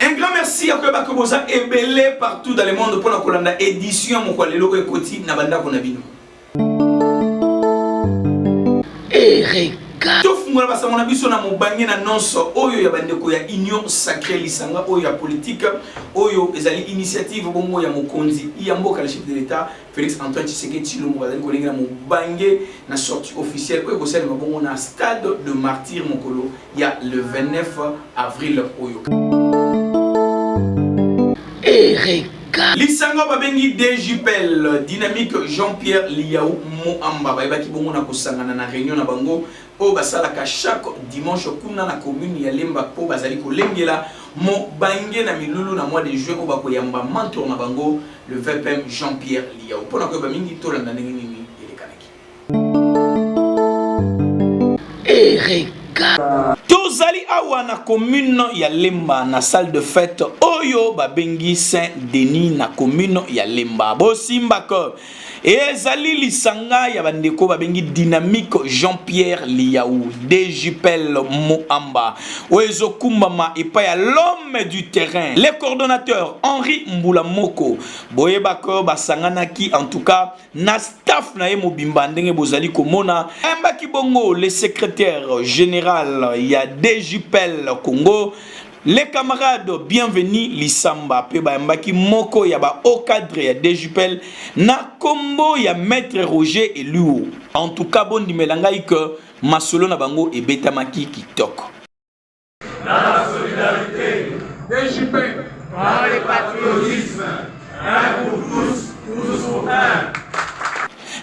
Un grand merci ya koyeba que boza ebele partout dans le monde mpo na kolanda édition ya mokwa lelo oyo ekoti na bandako na bino ereka tofungola basango na biso na mobange na nonso oyo ya bandeko ya union sacré lisanga oyo ya politike oyo ezali initiative bongo ya mokonzi ya mboka le chef de l'état Felix Antoine Tshisekedi Tshilombo bazali kolengela mobange na sortie officielle oyo ekosalema bongo na stade de martyr mokolo ya le 29 avril oyo Ereka. lisanga babengi djpl dynamique jean-pierre liau moamba bayebaki bongo na kosangana na réunion na bango oyo basalaka chaque dimanche kuna na commune ya lemba mpo bazali kolengela mobange na milulu na mois de juin oyo bakoyamba mentor na bango Le VPM Jean-Pierre Liao. Mpo na koyeba mingi tolanda ndenge nini elekanaki. Ereka. Tozali awa na commune ya Lemba na salle de fête oyo babengi Saint Denis na commune ya Lemba. Bosimba ko Ezali lisanga ya bandeko babengi Dynamique Jean-Pierre Liyaou Dejipel Muamba oyo ezokumbama epai ya l'homme du terrain le coordonnateur Henri Mbula Moko boyeba ko basanganaki en tout cas na staff na ye mobimba ndenge bozali komona ayambaki bongo le secrétaire général ya Dejipel Congo Les camarades bienvenue Lisamba pe bayambaki moko ya ba haut cadre ya DJPL na kombo ya maître Roger Eluo. En tout cas bondimela ngai que masolo na bango ebetamaki kitoko. Dans la solidarité, DJPL, par le patriotisme, un pour tous, tous pour un.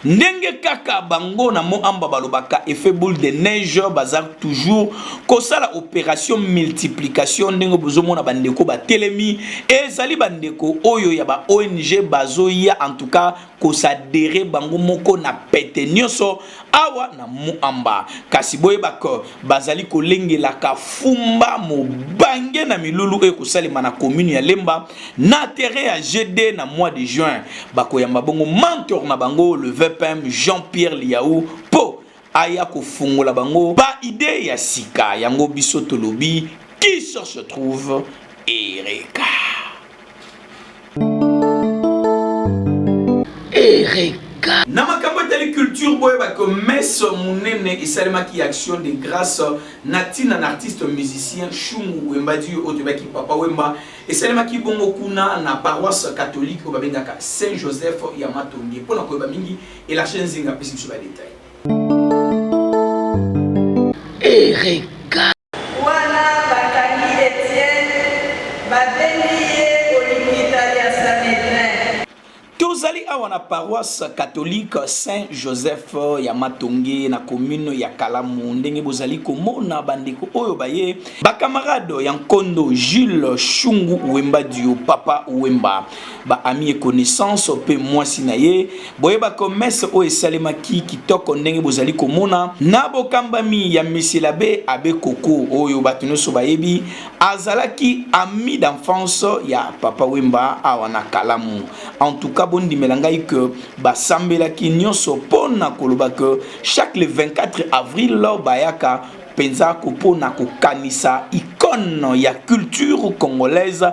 ndenge kaka bango na moamba balobaka effet boule de neige baza toujours kosala operation multiplication ndenge bozomona bandeko batelemi ezali bandeko oyo ya ba ong bazoya en tout cas kosadere bango moko na pete nyonso awa na moamba kasi boyebaka bazali kolengelaka fumba mobange na milulu oyo ekosalema na commune ya lemba na terrain ya GD na mois de juin bakoyamba bongo mentor na bango le VPM Jean-Pierre Liaou po aya kofungola bango ba idee ya sika yango biso tolobi qui cherche trouve Ereka Ereka na makambo etali culture boyeba ke messe monene esalemaki ya action de grâce na ntina na artiste musicien Shungu Wemba Dio oyo toyebaki Papa Wemba Esalemaki bongo kuna na paroisse catholique oyo babengaka Saint Joseph ya Matonge. Mpo na koyeba mingi, Elargir Nzinga apesi biso ba details. Erega Tozali awa na paroisse catholique Saint Joseph ya Matonge na commune ya Kalamu. Ndenge bozali komona bandeko oyo baye bakamarade ya nkondo Jules Shungu Wemba Dio Papa Wemba ba ami et connaissance mpe mwasi na ye boye bakomese oyo esalemaki kitoko ndenge bozali komona na bokambami ya Monsieur l'Abbé Abbé Koko oyo bato nyonso bayebi azalaki ami d'enfance ya papa wemba awa na kalamu en tout cas bondimela ngai que basambelaki nyonso mpo na koloba que chaque le 24 avril bayaka mpenza kopona kokanisa icone ya culture congolaise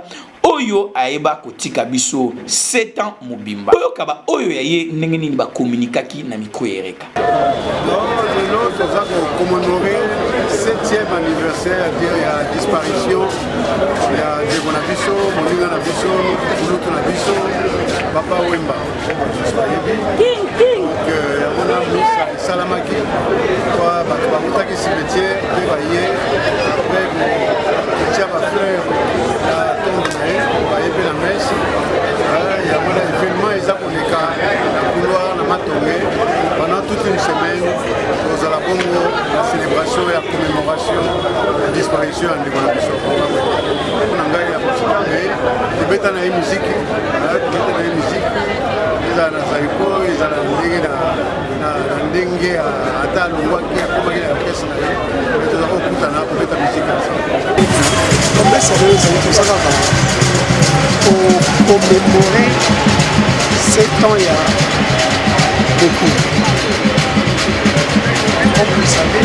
oyo ayeba kotika biso 7 ans mobimba oyoka ba oyo ya ye ndenge nini ba communiquaki na micro ya Ereka lelo toza ko commemorer 7e anniversaire ya disparition ya ndeko na biso moninga na biso kulutu na biso papa wemba esalamaki kwa bato bakutaki cimetiere mpe baye apres kotia bafleur na tombe na ye baye mpe na mese yango na evenement eza koleka na couloir na matonge pendant toute une semaine tozala bongo na célébration ya commémoration ya disparition ya ndeko na biso Ndeko na ngai ya mosika me tobeta na ye miziki tobeta na ye miziki ezala na zaiko ezala na ndenge na ndenge ata alongwaki akomaki na orkestre na ye me toza kokutana kobeta miziki na sango kopesa lelo ezali toza kaka komemore 7 ans ya beaucoup comme vous savez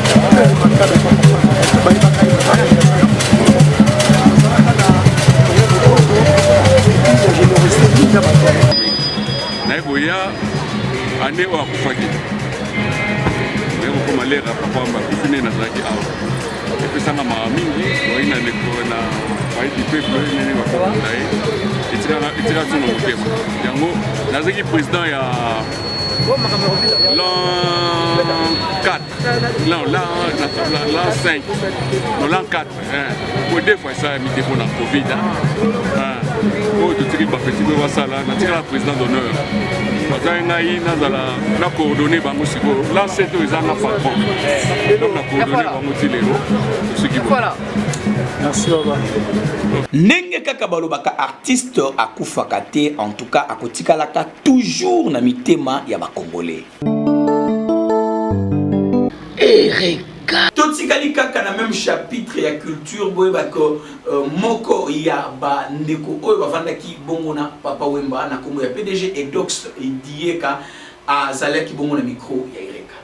naye koya ane oyo akufaki naye kokoma lera papa makufi nde nazalaki awa epesanga mawa mingi oyi na ndeko na bayebi peple nene bakokonda ye etika so na motema yango nazalaki président ya l'an 4 L'an, l'an, l'an 5, non, l'an 4, hein. Pour deux fois ça, mis pour la Covid, hein. oyo totiki bapeti mpe basala natikala président d'honneur bazali ngai nazala na coordonne bango sikoyo lance to eza na patron donc na coordonne bango ti lelo tosiki ndenge kaka balobaka artiste akufaka te en tout cas akotikalaka toujours na mitema ya bacongolais Ereka. totikali kaka na meme chapitre ya culture boyeba ke euh, moko ya bandeko oyo bavandaki bongo na papa wemba na nkombo ya pdg edox dieka azalaki bongo na micro ya ereka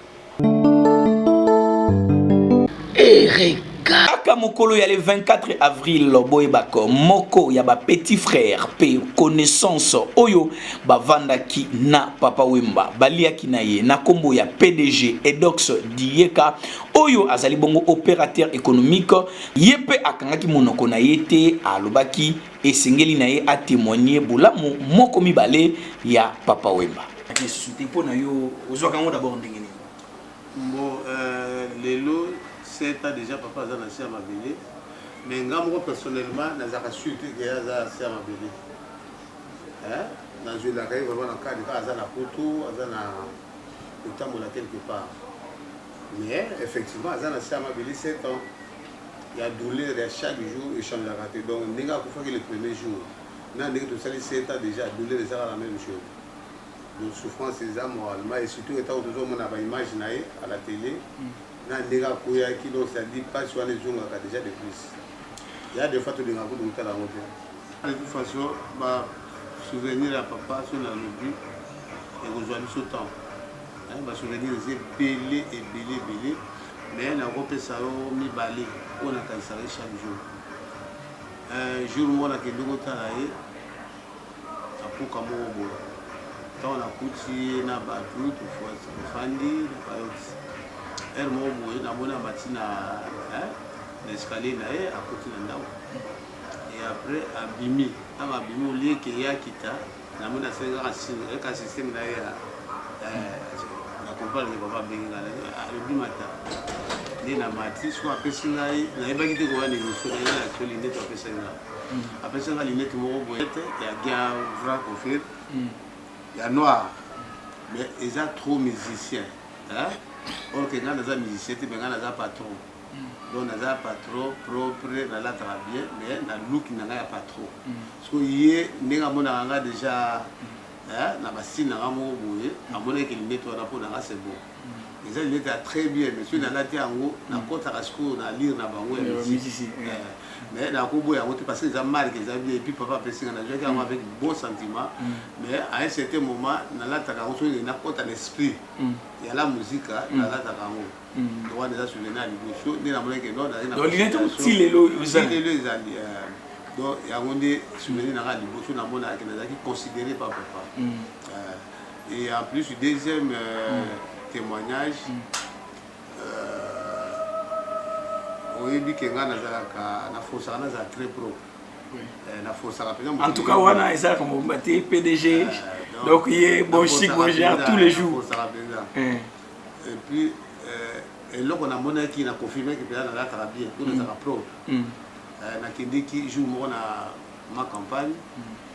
ereka kaka mokolo ya le 24 avril boyebaka moko ya ba petit frère mpe connaissance oyo bavandaki na papa wemba baliaki na ye na nkombo ya pdg edox diyeka oyo azali bongo opérateur économique ye mpe akangaki monoko na ye te alobaki esengeli na ye atemoigne bolamu moko mibale ya papa wemba mpo na yo ozwaka yango dabord ndenge nini Mbo euh lelo 7 ans dejà papa aza na se ya mabele mais nga moko personnellement nazalaka sur te ke aza se ya mabele hein nazwelaka ye vraiment na cadre kaka aza na poto aza na kotambola quelque part mais effectivement aza na se ya mabele 7 ans ya douleur ya chaque jour echangeaka te donc ndenge akufaki le premier jour na ndenge tosali 7 ans déjà douleur ezaka la même chose Donc souffrance eza moralement et surtout etango tozo mona ba image na ye à la tele na ndenge akweyaki donc ça dit pasi wana ezongaka dejà de plus ya de fois tolingaka kutu kotala yango te de toute façon ba souvenir ya papa so na lobi ekozwa biso temps ba souvenir eza ebele ebele ebele mais nakopesa yo mibale oyo nakanisaka ye chaque jour jour moko nakende kotala ye na mpoka moko boye ntango nakuti ye na bato tofandi na bayoti heure moko boye namoni amati na na escalier na ye akuti na ndako e après abimi ntango abimi olieke ye akita namoni asali kaka sine eka systeme na ye ya na comprendre ke papa abengi ngai alobi mata nde na mati so apesi ngai nayebaki te koya na émission na ye na actueli nde to apesaki ngai apesi nga linete moko boyete ya guerre grand confir hmm. ya noir mais eza trop musicien or ke nga naza musicien te mais nga naza patron hmm. donc naza patron propre nalataka bien mais na luki na nga ya patron hmm. so ye ndenge amonaka nga déjà na basine na nga moko boye amonaki linete wana mpo na nga c'est bon eza lunette ya très bien mais soki nalati yango nakotaka sikoyo na lire na bango ya misisi mais nakoboya yango te parce que eza marque eza bien epuis papa apesinga nazwaki yango avec bon sentiment mais à un certain moment nalataka yango soki nakota na esprit ya la musika nalataka yango donc wana eza souveni ya liboso nde namonaki nonlelo ezali donc yango nde souveni nanga liboso namonaki nazalaki considéré pa papa Et en plus, deuxième euh, mm. témoignage, mm. euh, oyebi ke nga nazalaka nafosaka nazala très propre oui. euh, nafosaka mpenza en tout cas wana ezalaka mobimba te pdg euh, donc ye bon chic bon genre tous les jours nafosaka mpenza eh. et puis euh, eloko namonaki na confirmaki mpenza nalataka bien mpo nazalaka mm. propre euh, nakendeki jour moko na ma campagne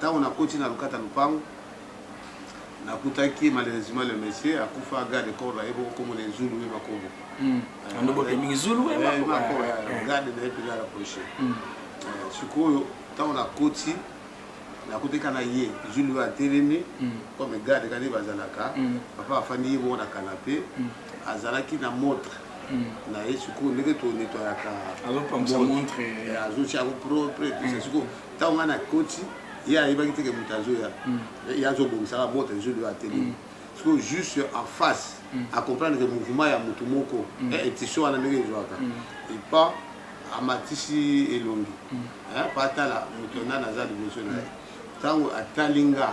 Tango na koti na lokata lopango na kutaki malheureusement le monsieur akufa garde de corps na ye boko kombo na ye Zulu Wema Kobo. Hmm. Euh, Ando bote mingi Zulu Wema eh, Kobo. Eh, garde na ye pili ala proche. Hmm. Euh, sikoyo tango na koti nakuteka na ye zulu oyo atelemi mm. comme garde kani bazalaka mm. papa afandi ye moko na kanape mm. azalaki na montre na ye sikoyo ndenge tonetoyaka azotya yango propre sikoyo ntango ngai nakoti ye ayebaki teke moto azoya hmm. ye azobongisaka bota ezo lio ateli hmm. sikoyo juste en face hmm. acomprendre ke mouvement ya motu moko eh, etition wana ndenge ezwaka epa amatisi elongi eh, pa atala moto nani aza liboso na ye ntango atali nga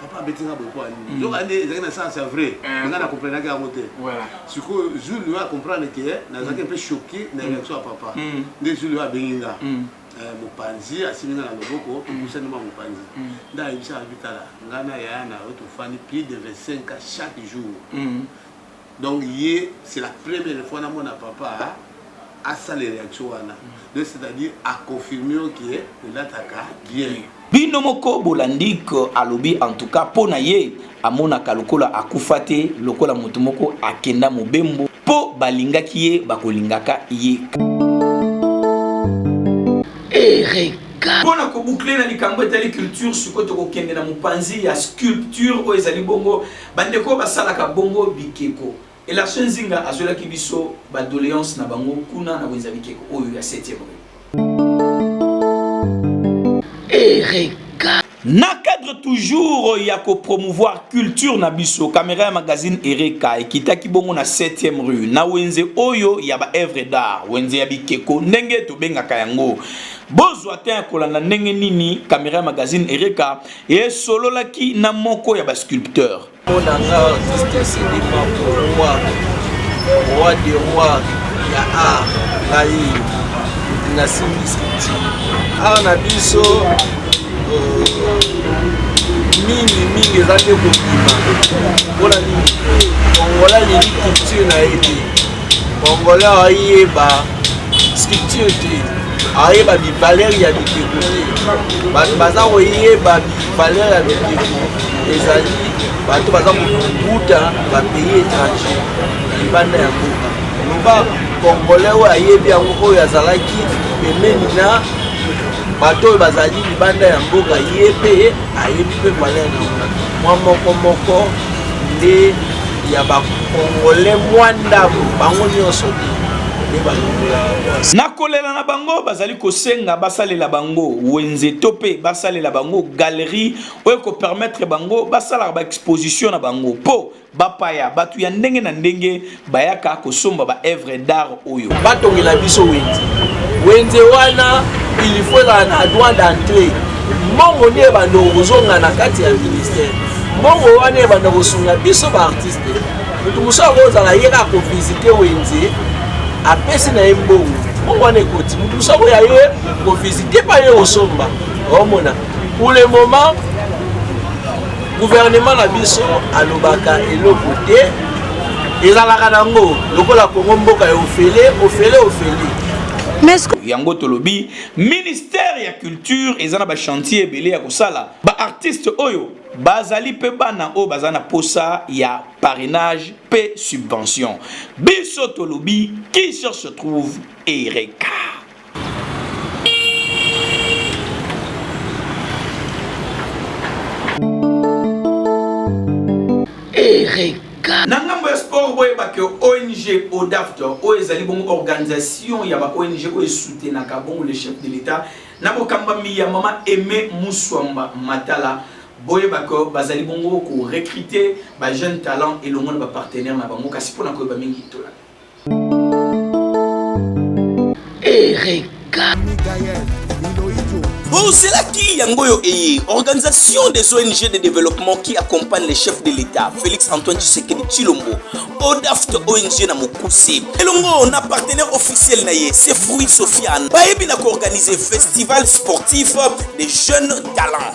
papa abeti nga boye mpo ya nini nzoka nde ezalaki na sens ya vrai nga na comprenaki yango te sikoyo jour lio acomprendre ke nazalaki mpe choqué na élection ya papa nde jour lio abengi nga mopanzi asimbi nga na loboko topusani mwa mopanzi nde ayebisaka bitala nga na yaya na yo tofandi plus de 25 ans chaque jour Donc ye c'est la première fois na mona papa asala reaction wana donc c'est à dire a confirme yo ke olataka bien bino moko bolandi ke alobi en tout cas mpo na ye amonaka lokola akufa te lokola moto moko akenda mobembo mpo balingaki ye bakolingaka ye mpo na kobukle na likambo etali culture sikoyo tokokende na mopanzi ya sculpture oyo ezali bongo Bandeko oyo basalaka bongo bikeko. Elarson Nzinga azwelaki biso ba doleances na bango kuna na wenze ya bikeko oyo ya 7e rue. Ereka. Na cadre toujours ya ko promouvoir culture na biso, kamera ya magazine Ereka ekitaki bongo na 7e rue na wenze oyo ya ba œuvres d'art, wenze ya bikeko ndenge tobengaka yango. Bozwa temps ya kolanda ndenge nini kamera ya magazine Ereka esololaki na moko ya basculpteur mpona nga artiste eselema roi roi de roi ya art ngai nasimbi sculpture art na biso euh, mingi mingi eza nde kobima mpona nini kongola alingi culture na ye te Congolais ayeba structure te ayeba bivaleur ya bikeko te bato baza koyeba bivaleur ya bikeko ezali bato baza kobuta bapays étranger libanda ya mboka loba congolais oyo ayebi yango oyo azalaki pembeni na bato oyo bazali libanda ya mboka ye mpe ayebi mpe valeur na yango mwa moko moko nde ya bakongole mwa ndambo bango nyonso te nde balongola na kolela na bango bazali kosenga basalela bango wenze to mpe basalela bango galerie oyo ekopermettre bango basalaka baexposition na bango mpo Bapaya, batu ya ndenge na ndenge bayaka kosomba ba œuvres d'art oyo. Batongela biso wenze. Wenze wana il faut ezala na droit d'entrée. Mbongo nde ebanda kozonga na kati ya ministère. Mbongo wana ebanda kosunga biso ba artistes. Moto mosusu akozala ye kaka kovisite wenze apesi na ye mbongo. Mbongo wana ekoti. Moto mosusu akoya ye kovisite pa ye kosomba. Omona. Pour le moment, gouvernement na biso alobaka eloko te ezalaka nango lokola kongo mboka ya ofele ofele ofele yango tolobi ministère ya culture eza na bachantier ebele ya kosala baartiste oyo bazali mpe bana oyo baza na posa ya parrainage mpe subvention biso tolobi qui cherche trouve ereka na ngambo ya sport boyeba ke ong odafte oyo ezali bongo organisation ya ba ong oyo esoutenaka bongo le chef de l'etat na bokambami ya mama aime muswamba matala boyeba ke bazali bongo korecrute ba jeune talent elongo na bapartenaire na bango kasi mpona koyeba mingi tolanda Ereka. ozelaki yango oyo eye organisation des ong de développement qui accompagne le chef de l'état félix antoine tshisekedi tshilombo odaft ong na mokuse elongo na partenaire officiel na ye se fruit sofiane bayebi na koorganize festival sportif des jeunes talents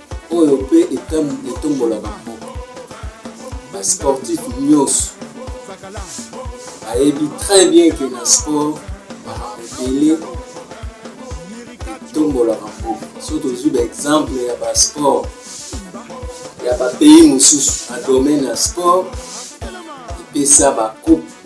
oyo mpe etombolaka mboka basportif nyonso bayebi très bien ke na sport makambo ebele etombolaka mboka so tozwi baexemple ya basport ya bapays mosusu na domaine ya sport epesa bakupe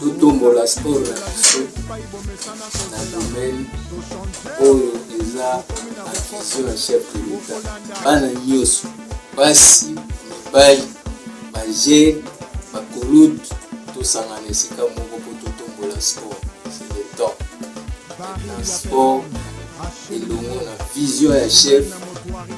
totombola sport na biso na domaine oyo eza avision ya chef de l'etat bana nyonso basi mibali bagene bakolutu tosangana esika moko mpo totombola sport c'est le temps maintenant sport elongo na vision ya chef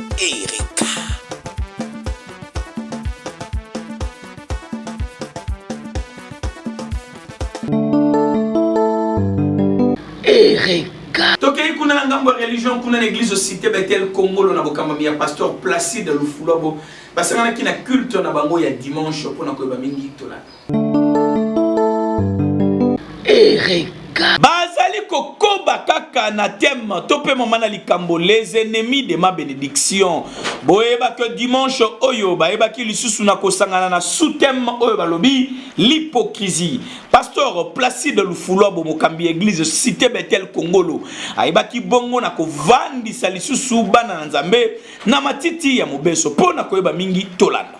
Erika. Erika. Tokei kuna na ngambo ya religion kuna na eglise Cité Bethel Kongolo na bokambami ya pasteur Placide Lufulabo basanganaki na culte na bango ya dimanche mpo na koyeba mingi tolanda. bazali kokoba kaka na teme to mpe mama na likambo les ennemis de ma benediction boyeba ke dimanche oyo bayebaki lisusu na kosangana na sous-teme oyo balobi l'hypocrisie pasteur placide lufulwa bomokambi ya eglise cité betel kongolo ayebaki bongo na kovandisa lisusu bana na nzambe na matiti ya mobeso mpo na koyeba mingi tolanda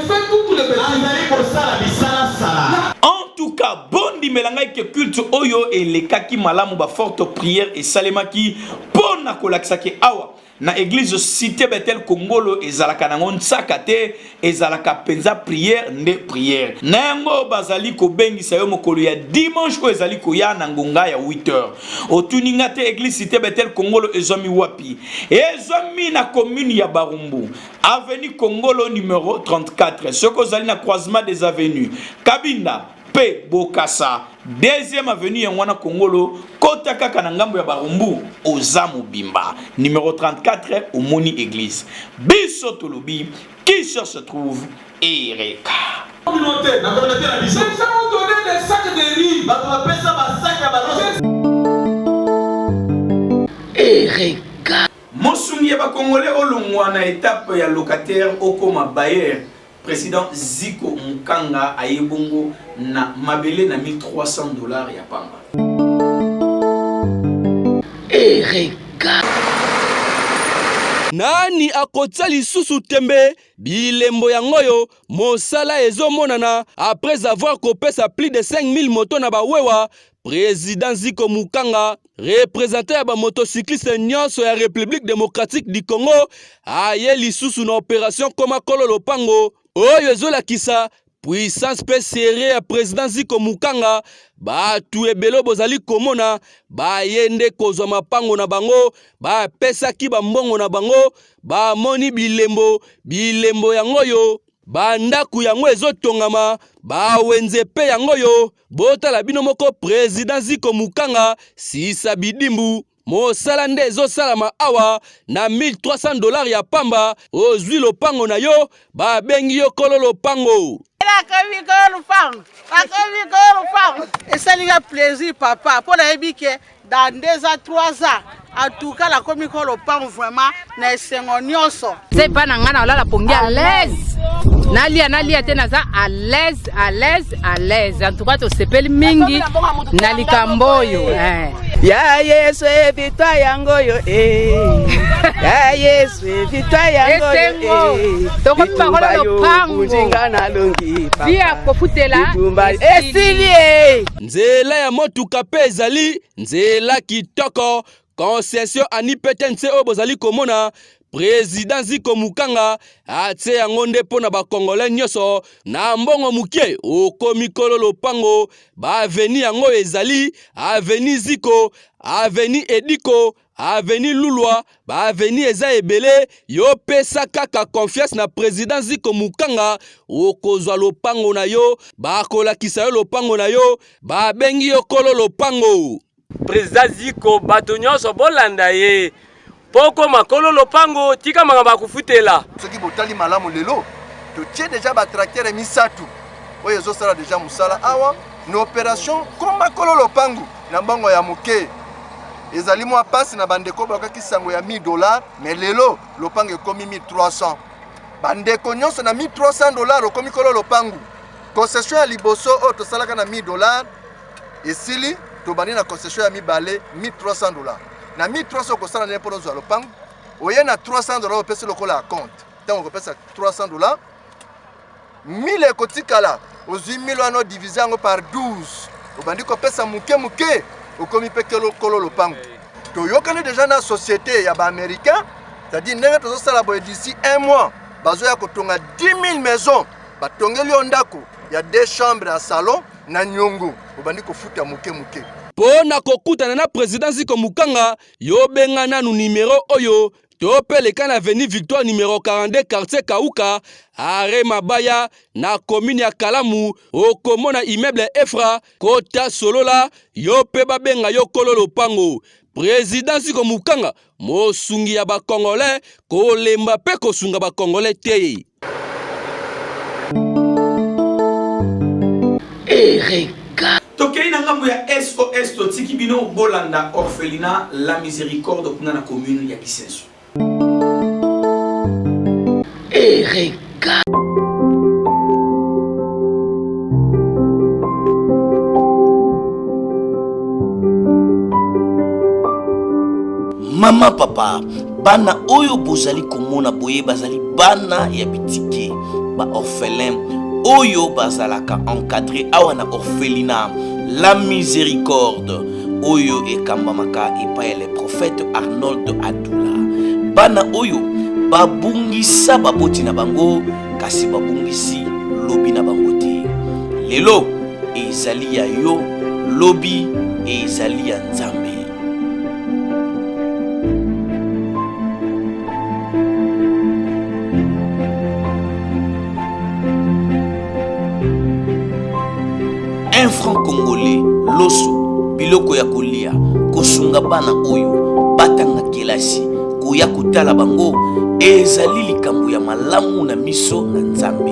azali kosala bisalasala entuka bondimela ngai ke culte oyo elekaki malamu baforte prière esalemaki mpo na kolakisa ke awa na eglise cité betel kongolo ezalaka nango nsaka te ezalaka mpenza prière nde prière na yango bazali kobengisa yo mokolo ya dimanche oyo ezali koya na ngonga ya 8 heures otuni nga te eglise cité betel kongolo ezwami wapi ezwami na commune ya barumbu Avenue Kongolo numero 34 soki ozali na croisement des avenues Kabinda mpe Bokasa deuxième avenue yango wana Kongolo kota kaka na ngambo ya Barumbu oza mobimba numero 34 omoni eglise biso tolobi qui cherche se trouve ereka communauté na communauté na biso les gens ont donné des sacs de riz bato bapesa ba sacs ya balose ereka Mosungi ya ba congolais olongwa na etape ya locataire okoma bailleur, president Ziko Mukanga aye bongo na mabele na 1300 dollars ya pamba. Erega. Nani akotia lisusu tembe bilembo yango oyo mosala ezomonana après avoir kopesa plus de 5000 moto na bawewa President Ziko Mukanga, representant ya bamotocycliste nyonso ya Republique démocratique du Congo, aye lisusu na operation Koma Kolo Lopango oyo ezolakisa puissance mpe serie ya president Ziko Mukanga bato ebele bozali komona baye nde kozwa mapango na bango bapesaki bambongo na bango bamoni bilembo bilembo yango oyo bandako yango ezotongama bawenze mpe yango oyo Botala bino moko president Ziko Mukanga sisa bidimbu mosala nde ezosalama awa na 1300 dollars ya pamba ozwi lopango na yo babengi yo kolo lopango nakomi kolo lopango nakomi kolo lopango esali nga plaisir papa mpo nayebi ke dans deux ans trois ans atuka nakomi ko lopango vraiment na esengo nyonso se epai na ngai naolala pongi à l'aise nalia nalia te naza à l'aise à l'aise à l'aise en tout cas tosepeli mingi na likambo oyo eh. ya yesu evitwa yango oyo eh. ya yesu evitwa yango oyo eh. tokomi bangola lopango nzinga nalongi papa via kofutela esili Nzela ya motuka mpe ezali nzela kitoko. Concession anipete nse oyo bozali komona prezida ziko mukanga atie yango nde mpo na bakongole nyonso na mbongo moke okomi kolo lopango baaveni yango ezali aveni ziko aveni ediko aveni lulwa baaveni eza ebele yo pesa kaka confiance na president ziko mukanga okozwa lopango na yo bakolakisa yo lopango na yo babengi yo kolo lopango president ziko bato nyonso bolanda ye mpo okoma kolo lopango tika makambo akofutela soki botali malamu lelo totie deja batractere misato oyo ezosala deja mosala awa na operation koma kolo lopangu na mbongo ya moke ezali mwa mpasi na bandeko bakaki sango ya 1000 dollar me lelo lopango ekomi 1300 bandeko nyonso na 1300 dollar okomi kolo lopangu concession ya liboso oyo tosalaka na 1000 dollar esili tobandi na concession ya mibale 1300 dollar na 1300 okosala ndenge mpona ozwa lopango oye na 300 dollar opesi lokola ya compte ntango okopesa 300 dollar 1000 ekotikala ozwi 1000 wana odivise yango par 12 obandi kopesa moke moke okomi mpe kolo lopango toyokani deja na société ya baaméricain c'est-à-dire ndenge tozosala boye d'ici un mois bazoya kotonga 10 000 maison batongeli yo ndako ya deux chambre ya salon na nyongo obandi kofuta moke moke mpo na kokutana na president ziko mukanga yo benga nanu numero oyo topeleka na avenue victoire numero 42 quartier kauka are mabaya na komine ya kalamu okomona immeuble efra kota solola yo mpe babenga yo kolo lopango prezidan ziko mokanga mosungi ya bakongole kolemba mpe kosunga bakongole te ereka tokei na ngambo ya sos totiki bino bolanda orphelina la miséricorde kuna na commune ya kisenso ereka mama papa bana oyo bozali komona boye bazali bana ya bitike ba orphelin oyo bazalaka encadre awa na orphelina la miséricorde oyo ekambamaka epai ya le prophète arnold adula bana oyo babungisa baboti na bango kasi babungisi lobi na bango te lelo ezali ya yo lobi ezali ya nzambe Un franc congolais, loso, biloko ya kolia, kosunga bana oyo batanga kelasi, koya kotala bango ezali likambo ya malamu na miso na Nzambe.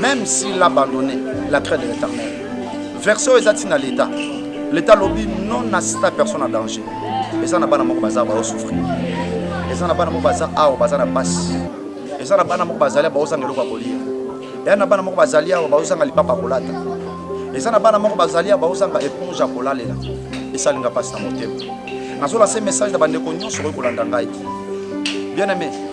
Même s'il abandonne la craie de l'éternel. Version eza tina l'État. L'État lobi non assista personne en danger. Eza na bana moko baza ba souffrir. Eza na bana moko baza awa baza na passe. Eza na bana moko bazali ba ozanga eloko kolia. Eza na bana moko bazali awa ba ozanga lipapa kolata. Eza na bana moko bazali awa ba ozanga éponge kolalela. Esalinga passe na motema. Nazola se message na bandeko nyonso oyo kolanda ngai. Bien aimé,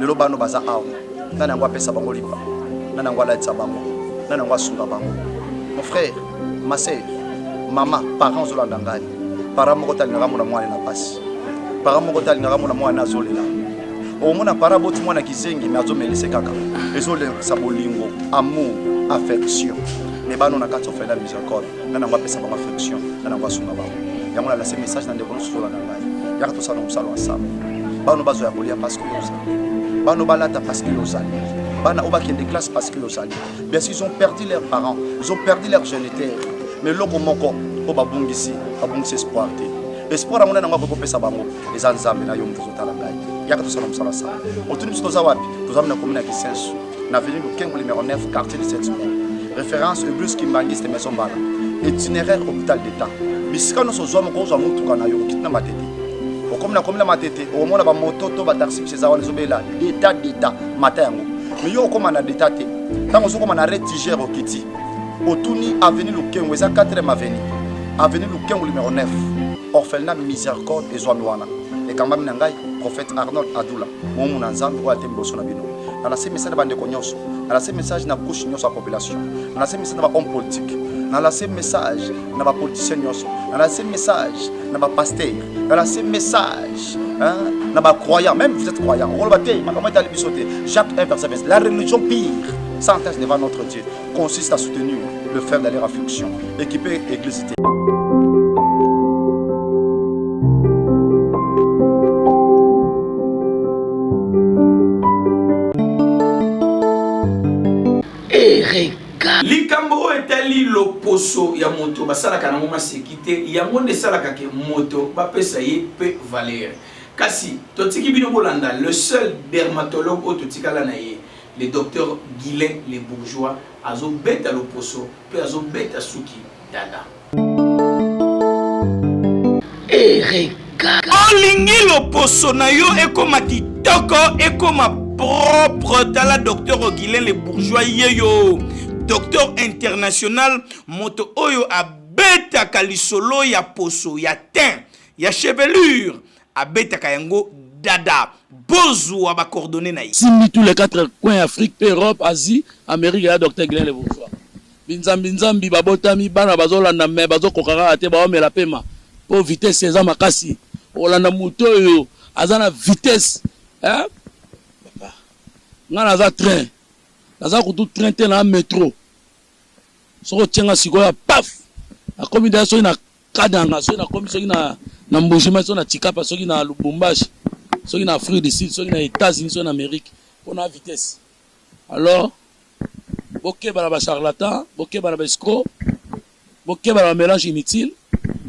lelo bano baza awa nani yango apesa bango lipa nani yango alatisa bango nani yango asunga bango mon frère ma sœur mama parent ozolanda ngai parent moko te alingaka mona mwana na mpasi parent moko te alingaka mona mwana azolela omona parent aboti mwana kizengi me azomelise kaka ezolekisa bolingo amour affection me bano na kati ofela miséricorde nga nango apesa bango affection nga nango asunga bango yango nalase message na ndeko nyonso tolanda ngai yaka tosala mosala ensemble bano bazwa ya kolia parce que ozali bano balata parce que ozali bana oyo bakende classe parce que ozali bien sûr ils ont perdu leurs parents ils ont perdu leur géniteur mais eloko moko oyo babungisi babungisi espoir te espoir yango nde nango akoki kopesa bango eza nzambe na yo moto ozotala ngai yaka tosala mosala sana otuni biso toza wapi toza mina komina kisensu na avenue Lukengo numéro 9 quartier 17 mai référence eglise kimbanguiste maison mbala itinéraire hôpital d'état bisika nyonso ozwa moko ozwa motuka na yo okiti na matete okomi na komi na matete okomona bamoto to bataxi misi eza wana ezobela d'état d'état mata yango mais yo okoma na d'état te ntango ozokoma na retigere okiti otuni avenue lukengo eza 4e avenue avenue lukengo numéro 9 orphelina miséricorde ezwami wana ekambami na ngai prophète arnold adula momu na nzambe oyo ate liboso na bino na lase message na bandeko nyonso na lase message na couche nyonso ya population na lase message na ba homme politique na lase message na ba politicien nyonso na lase message na ba pasteur na lase message hein, na ba croyant même vous êtes croyant okoloba te makambo etali biso te jacques 1 verset 20 la religion pire sans devant notre dieu consiste à soutenir le frère d'aller à fonction équipé église likambo oyo etali loposo ya moto basalaka nango maseki te yango nde esalaka ke moto bapesa ye mpe valere kasi totiki bino bolanda le seul dermatologue oyo totikala na ye Le docteur Guylain le bourgeois azo beta loposo pe azo beta suki dada. Ereka. Olingi loposo na yo ekoma kitoko ekoma propre tala docteur Guylain le bourgeois yeyo docteur international moto oyo abetaka lisolo ya poso ya teint ya chevelure abetaka yango dada bozua ba coordonnées na ye simbi tous les quatre coins afrique mpe europe asie amérique ya docteur glen le bourgeois binzambi nzambi babotami bana bazolanda me bazokoka kaka te baomela pema mpo vitesse eza makasi okolanda moto oyo aza na vitesse eh? papa ngai naza train naza kutu train te na metro soki otie ngai sikoyo paf nakomi deya soki na Kananga soki na komi soki na na mbujima soki na tikapa soki na lubumbashi soki na afrique du sud soki na etats-unis soki na amerique mpo na vitesse alors bokeba na bacharlatan bokeba na baescro bokeba na bamélange inutile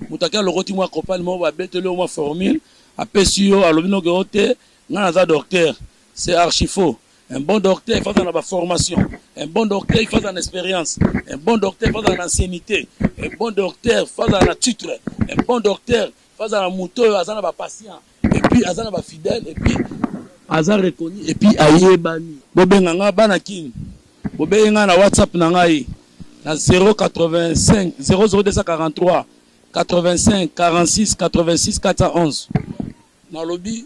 moto ake alokoti mwa kopani moko babeteli yo mwa formule apesi yo alobi noke yo te ngai naza docteur c'est archifaux Un bon docteur il faut azala na ba formation, un bon docteur il faut azala na experience, un bon docteur il faut azala na anciennite, un bon docteur il faut azala na titre, un bon docteur il faut azala na moto oyo aza na ba patient et puis aza na ba fidèle et puis aza reconnu et puis ayebani. Bobenga nga bana kin, bobenga nga na WhatsApp na ngai na 085 00243 85 46 86 411 nalobi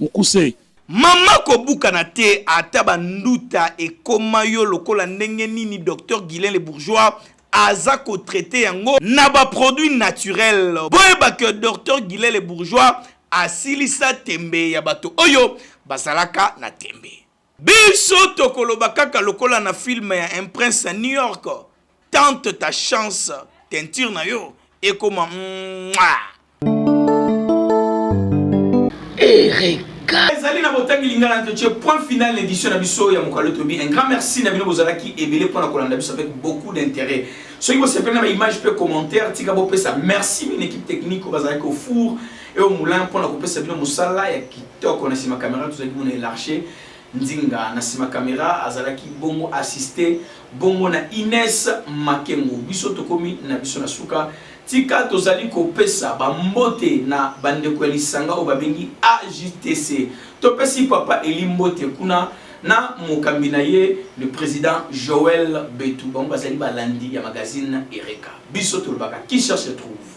mukuse. Maman kobukana te ata ba nduta ekoma yo lokola ndenge nini docteur Guylain le bourgeois aza ko traite yango na ba produits naturels boyeba que docteur Guylain le bourgeois asilisa tembe ya bato oyo bazalaka na tembe. Biso tokoloba kaka lokola na film ya un prince ya New York, tente ta chance teinture na yo ekoma mwaa. Ereka. Ezali na botangi lingala nto ce point final na édition na biso ya mokalo tobi. Un grand merci na bino bozalaki ebele pona kolanda biso avec beaucoup d'intérêt. Soki bosepeli na ba image pe commentaire tika bopesa merci mine équipe technique oyo bazalaki au four Et au moulin, mpo na kopesa bino mosala ya kitoko na nsima kamera tozalaki mona elarche nzinga na nsima kamera azalaki bongo assiste bongo na ines makengo biso tokomi na biso na suka tika tozali kopesa bambote na bandeko ya lisanga oyo babengi agtc topesi papa eli mbote kuna na mokambi na ye le président joel betu bango bazali balandi ya magazine ereka biso tolobaka qui cherche trouve